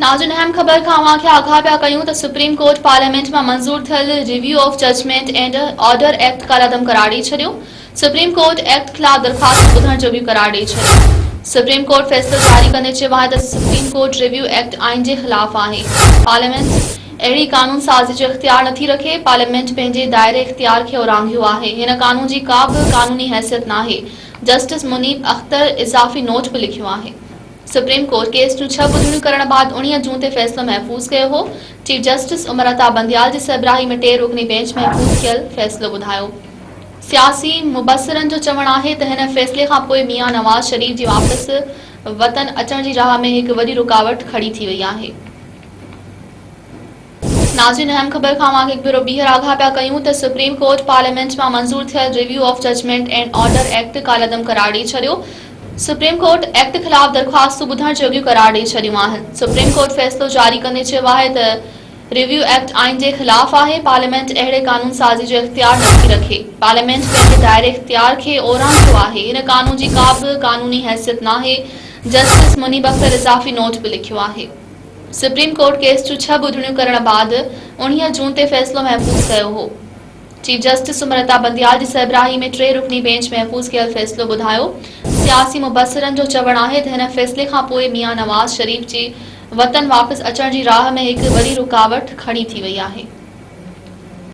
ناظرين اهم خبر کان اوهان کي آگاهه پيا ڪيون ته سپريم ڪورٽ پارليامينٽ مان منظور ٿيل review of judgment and order act ڪالعدم قرار ڏئي ڇڏيو سپريم ڪورٽ ايڪٽ خلاف درخواستون ٻڌڻ جوڳيون قرار ڏئي ڇڏيون سپريم ڪورٽ فيصلو جاري ڪندي چيو آهي ته سپريم ڪورٽ ريويو ايڪٽ آئين جي خلاف آهي پارليامينٽ اهڙي قانون سازي جو اختيار نٿي رکي پارليامينٽ پنهنجي دائري اختيار کي اورانگهيو آهي هن قانون جي ڪا به قانوني حيثيت ناهي جسٽس منيب اختر اضافي نوٽ به لکيو آهي سپريم ڪورٽ ڪيس جون ڇهه ٻڌڻيون ڪرڻ بعد اوڻيهه جون تي فيصلو محفوظ ڪيو هو. چيف جسٽس عمر عطا بنديال جي سربراهي ۾ ٽي رڪني بينچ محفوظ ٿيل فيصلو ٻڌايو. سياسي مبصرن جو چوڻ آهي ته هن فيصلي کانپوء ميان نواز شريف جي واپس وطن اچڻ جي راهه ۾ هڪ وڏي رڪاوٽ کڙي ٿي وئي آهي. ناظرين اهم خبر کان اوهان کي هڪ ڀيرو ٻيهر آگاهه پيا ڪيون ته سپريم ڪورٽ پارليامينٽ مان منظور ٿيل review of judgment and order act ڪالعدم قرار ڏئي ڇڏيو سپريم ڪورٽ ايڪٽ خلاف درخواستون ٻڌڻ جوڳيون قرار ڏئي ڇڏيون آهن سپريم ڪورٽ فيصلو جاري ڪندي چيو آهي ته ريويو ايڪٽ آئين جي خلاف آهي پارليامينٽ اهڙي قانون سازي جو اختيار نٿي رکي پارليامينٽ پنهنجي دائري اختيار کي اورانگهيو آهي هن قانون جي ڪا به قانوني حيثيت ناهي جسٽس منيب اختر اضافي نوٽ به لکيو آهي سپريم ڪورٽ ڪيس جون ڇهه ٻڌڻيون ڪرڻ بعد اوڻيهه جون تي فيصلو محفوظ ڪيو هو. چيف جسٽس سمرتا بنديال جي سربراهي ۾ ٽي رڪني بينچ محفوظ ڪيل فيصلو ٻڌايو. سياسي مبصرن جو چوڻ آهي ته هن فيصلي کان پوء ميان نواز شريف جي وطن واپس اچڻ جي راهه ۾ هڪ وڏي رڪاوٽ کڙي ٿي وئي آهي.